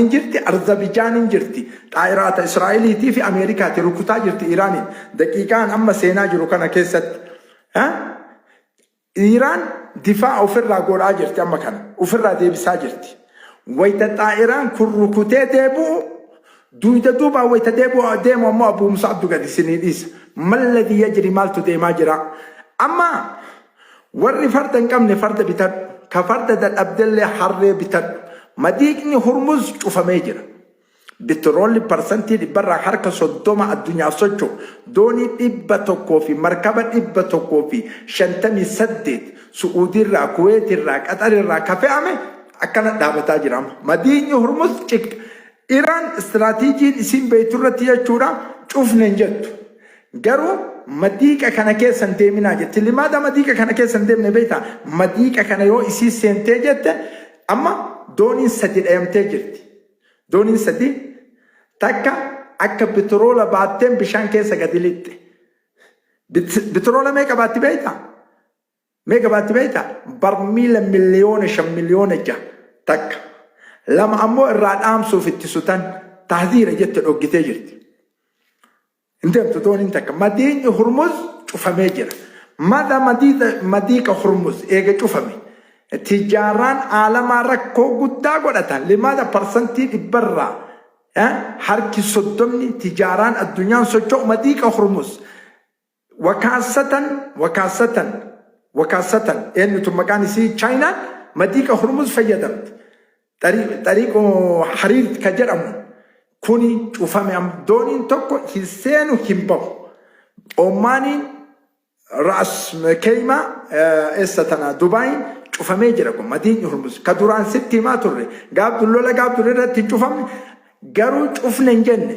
hin jirti, Arzabijaan hin jirti. Xaayiraata Israa'eliitii fi Ameerikaati rukutaa jirti Iiraaniin. Daqiiqaan amma seenaa jiru kana keessatti. Ha? Iiraan difaa ofirraa godhaa jirti amma kana. Ofirraa deebisaa jirti. Wayita xaayiraan kun rukutee deebi'u duyda duubaa wayita deebi'u deemu ammoo Abuu Musaabdu gadi isinii dhiisa. Malladii yajri maaltu deemaa jira? Amma Warri farda hin qabne farda bitadhu, ka farda dadhabdellee harree bitadhu. Madiiqni Hurmuz cufamee jira. Bitiroolli parsantii dhibbarraa harka 30 addunyaaf socho'u doonii 100 fi markaba 158 Su'uudiirraa, Kuweetirraa, Qaxarirraa ka fe'ame akkana dhaabataa jira amma. Madiiqni Hurmuz cigda. Iraan istiraatiijiin isiin beektu irratti jechuudha cufne hin jettu. Garuu madiiqa kana keessa hin deeminaa jetti. Limaada madiiqa kana keessa hin deemne beektaa? Madiiqa kana yoo isiin seentee jette amma dooniin sadi dhayamtee jirti. Dooniin sadi takka akka bitiroola baatteen bishaan keessa gadi lixxe. Bitiroola meeqa baatti beektaa? Mee gabaatti beektaa? Barmiila miliyoona shan miliyoona jaha takka lama ammoo irraa dhaamsuuf itti sutan tahziira jette dhoggitee jirti. Hin deemtu dooniin takka. Madiinyi Hurmuz cufamee jira. Mada madiiqa Hurmuz eega cufame. Tijaaraan aalamaa rakkoo guddaa godhata. Limaada parsantii dhibbarraa harki soddomni tijaaraan addunyaan socho'u madiiqa Hurmuz Wakaasatan Wakaasatan Wakaasatan eenyutu maqaan isii Chaayinaan madiiqa Hurmuz fayyadamti. Xariiqo Hariirt ka jedhamu kuni cufame am dooniin tokko hin seenu hin bahu. Ommaaniin Ra'as Keeymaa eessa tana Dubaayiin cufamee jira kun madiiqni Hurmuz ka duraan sitti himaa turre gaaf lola gaaf dur irratti hin cufamne garuu cufne hin jenne.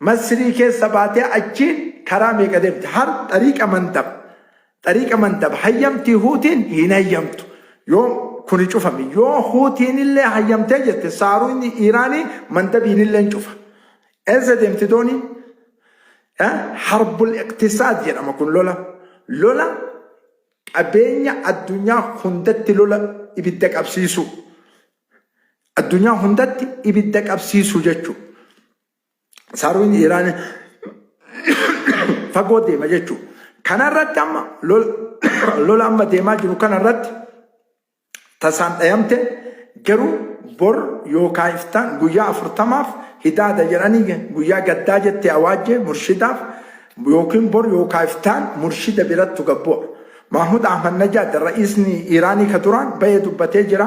Masrii keessa baatee achiin karaa meeqa deemte? Har xariiqa mandab. Xariiqa mandab hayyamtii huutiin hin hayyamtu. Yoo kuni cufame yoo huutiinillee hayyamtee jette saaruunyi Iiraanii mandabiinilleen cufa. Eessa deemti dooniin? Eh, Harbul iqtisaad jedhama kun lola. Lola qabeenya addunyaa hundatti lola ibidda qabsiisuu. Addunyaa hundatti ibidda qabsiisuu jechuudha. saruun Iraan fagoo deema jechuudha. Kanarratti amma lola amma deemaa jiru kanarratti tasaan dhayamte garuu bor yookaan iftaan guyyaa afurtamaaf hidaada jedhanii guyyaa gaddaa jettee awaajjee murshidaaf yookiin bor yookaan iftaan murshida birattu gabbu'a. Mahmud Ahmad Najaad ra'iisni Iraanii ka duraan bahee dubbatee jira.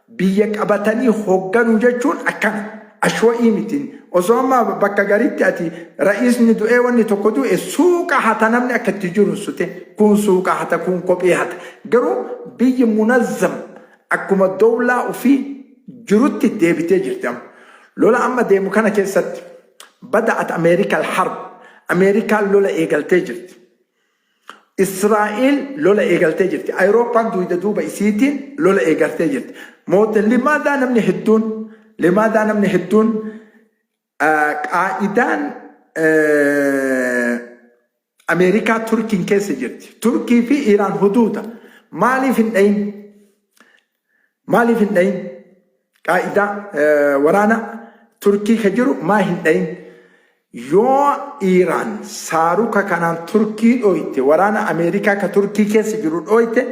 Biyya qabatanii hogganuu jechuun akkana. Ashwa'ii miti. Osoo amma bakka gariitti ati ra'iisni du'ee wanni tokko du'e suuqa hata namni akka itti jiru hin sute. Kuun suuqa hata kuun kophee hata. Garuu biyyi munazzam akkuma dowlaa ufii jirutti deebitee jirti amma. Lola amma deemu kana keessatti bada'at Ameerika al-harb. Ameerikaan lola eegaltee jirti. Israa'el lola eegaltee jirti. Ayirooppaan duuda duuba isiitiin lola eegaltee jirti. Moota limaadaa namni hedduun limaadaa namni hedduun qaa'idaan Ameerikaa Turkiin keessa jirti. Turkii fi Iraan huduuda maaliif hin dhayin? Maaliif hin dhayin? Qaa'idaa waraana Turkii ka jiru maa hin dhayin? Yoo Iiraan saaruka kanaan Turkii dhooyte, waraana Ameerikaa ka Turkii keessa jiru dhooyte,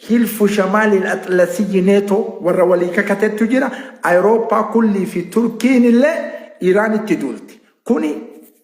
Hilfu Shamaaliil Axlasiyyi Neetoo warra walii kakatettu jira, Ayirooppaa kullii fi Turkiin illee Iiraanitti duulti. Kuni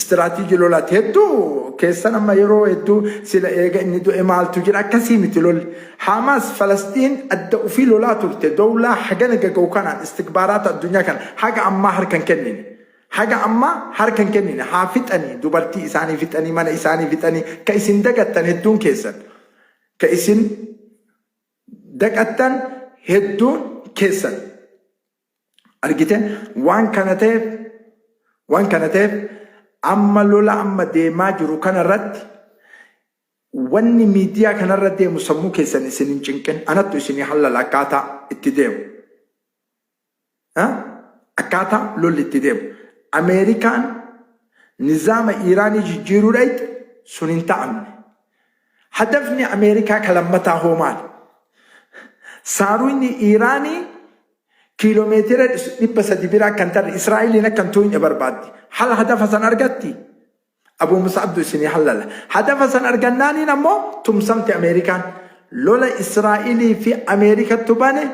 Istiraatiiji lolaati. Hedduu keessan amma yeroo hedduu sila eega inni du'e maaltu jira akkasii miti lolli. Haamaas Falasxiin adda ufii lolaa turte dowlaa hagana gaga'u kanaan istikbaaraata addunyaa kana haga ammaa harka hin kennine. Haga ammaa harka hin kennine haa fixanii dubartii isaanii fixanii mana isaanii fixanii ka isin dagattan hedduun keessan. Ka isin daqattan hedduun keessan. argite waan kana ta'eef waan kana ta'eef amma lola amma deemaa jiru kana irratti wanni miidiyaa kanarra deemu sammuu keessan isin hin cinqin anattu isinii hallala akkaataa itti deemu Ha? akkaataa lolli itti deemu ameerikaan nizaama iiraanii jijjiiruudhaatti sun hin ta'amne Hadafni Ameerikaa ka lammataa hoo maali? Saaruyni Iiraanii kiilomeetira 300 bira akka hin tarre Israa'eliin akka hin tuuyne barbaaddi. Hala hadafa san argatti? Abuu Mus'abdu isinii hallala. Hadafa san argannaaniin ammoo tumsamti Ameerikaan. Lola Israa'elii fi Ameerikattu bane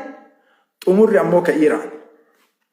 xumurri ammoo ka Iiraan.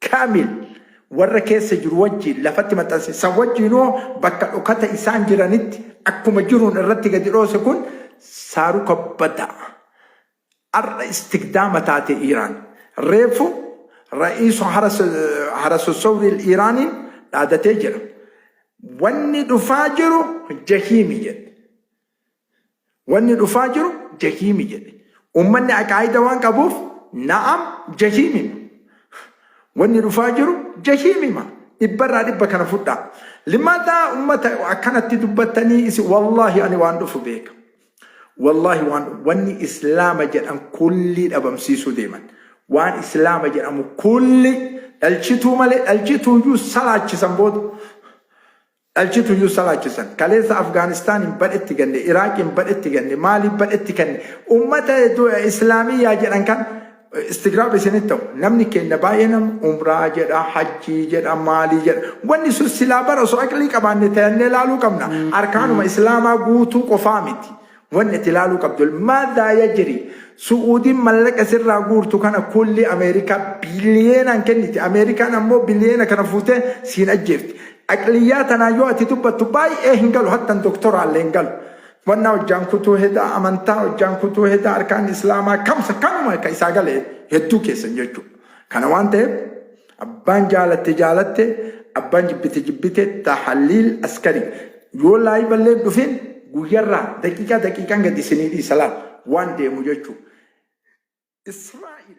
Kaamil, Warra keessa jiru wajjiin lafatti maxxanse, san wajjiin hoo bakka dhokata isaan jiranitti akkuma jiruun irratti gadi dhoose kun saaruka badaa ar'a istigdaama taate Iiraan. Reefu Ra'iisu Harasosowriil Iiraaniin dhaadatee jira. Wanni dhufaa jiru jahiimi jedhe. Wanni dhufaa jiru jahiimi jedhe. Ummanni aqaayida waan qabuuf na'am jahiimima. Wanni dhufaa jiru jahiimima. Dhibbarraa dhibba kana fudhaa. Limataa ummata akkanatti dubbattanii isi wallaahi ani waan dhufu beeka. Wallaahi waan wanni islaama jedhan kullii dhabamsiisuu deeman. Waan islaama jedhamu kulli dhalchituu malee dhalchituuyyuu salaachisan booda. dhalchitu iyyuu salaachisan. Kaleessa Afgaanistaaniin badhetti ganne, Iraaqiin badhetti ganne, Maaliin badhetti kanne. Ummata Islaamiyyaa jedhan kan istigraab isinitti ta'u. Namni keenya baay'een amma umraa jedha, hajjii jedha, maalii jedha. Wanni sun silaa bara osoo aqlii qabaanne tayannee laaluu qabna. Arkaanuma Islaamaa guutuu qofaa miti. Wanni ati ilaaluu qabdu Maadhaa yajiri? Su'uudiin mallaqa sirraa guurtu kana kullii Ameerikaa biliyeenaan kenniti. Ameerikaan ammoo biliyeena kana fuutee siin ajjeefti. Aqliyyaa tanaan yoo ati dubbattu baay'ee hin galu hattan doktoraallee hin galu. Wannaa hojjaan kutuu hedaa amantaa hojjaan kutuu hedaa arkaanni islaamaa kamsa kanuma ka isaa gale hedduu keessan jechuu. Kana waan ta'eef Abbaan jaalatte jaalatte abbaan jibbite jibbite tahaliil askari yoo laayiva illee hin dhufin guyyarraa daqiiqaa daqiiqaan gadi isinii dhiisa laal waan deemu jechuu Israa'il.